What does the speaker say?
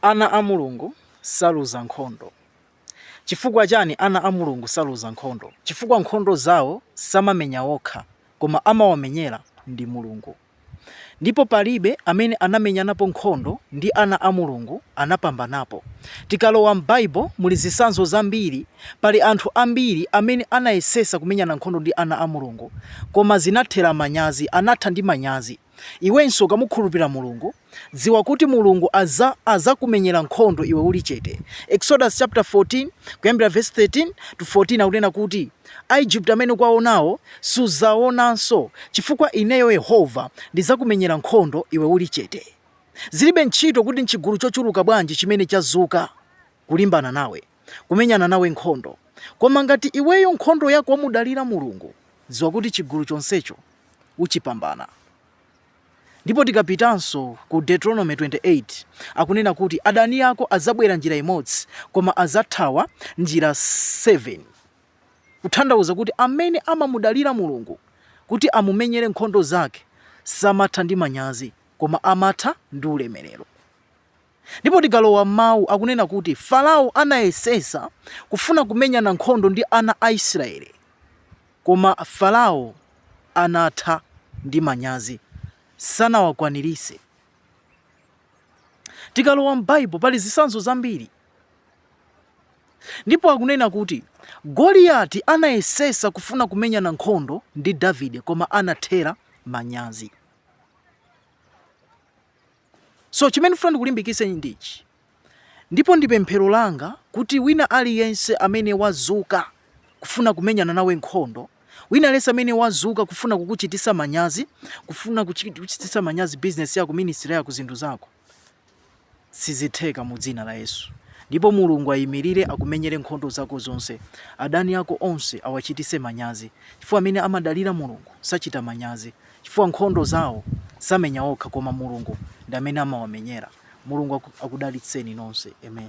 Ana a Mulungu saluza nkhondo. Chifukwa chani ana a Mulungu saluza nkhondo? Chifukwa nkhondo zawo samamenya okha koma amawamenyera ndi Mulungu. Ndipo palibe amene anamenyanapo nkhondo ndi ana a Mulungu anapambanapo. Tikalowa m'Bible muli zisanzo zambiri pali anthu ambiri amene anayesesa kumenyana nkhondo ndi ana a Mulungu koma zinathera manyazi anatha ndi manyazi. Iwenso ukamukhulupira Mulungu, dziwa kuti Mulungu azakumenyera nkhondo iwe uli chete. Exodus chapter 14, kuyambira verse 13 to 14 akunena kuti, Aigupto amene ukuwaonawo suzaonanso, chifukwa ineyo Yehova ndizakumenyera nkhondo iwe uli chete. Zilibe ntchito kuti nchigulu chochuluka bwanji chimene chazuka kulimbana nawe. kumenyana nawe nkhondo. Koma ngati iweyo nkhondo yako wamudalira Mulungu, dziwa kuti chigulu chonsecho uchipambana. Ndipo tikapitanso ku Deuteronomy 28, akunena kuti adani ako adzabwera njira imodzi, koma azathawa njira 7. Kuthandauza kuti amene amamudalira Mulungu kuti amumenyere nkhondo zake samatha ndi manyazi, koma amatha ndi ulemerero. Ndipo tikalowa m'mawu, akunena kuti Farao anayesesa kufuna kumenyana nkhondo ndi ana a Israeli, koma Farao anatha ndi manyazi, sanawakwanirise. Tikalowa m'Baibo, pali zisanzo zambiri, ndipo akunena kuti Goliati anayesesa kufuna kumenyana nkhondo ndi Davide, koma anathera manyazi. So chimene ndifuna ndikulimbikitse ndichi, ndipo ndi pemphero langa kuti wina aliyense amene wazuka kufuna kumenyana nawe nkhondo, wina aliyense amene wazuka kufuna kukuchitisa manyazi, kufuna kuchitisa manyazi business yako, ministry yako, zinthu zako, sizitheka mu dzina la Yesu. Ndipo Mulungu ayimirire akumenyere nkhondo zako zonse, adani ako onse awachitise manyazi, chifukwa amene amadalira Mulungu sachita manyazi. chifukwa nkhondo zawo samenya okha koma mulungu ndi amene amawamenyera mulungu akudalitseni nonse amen.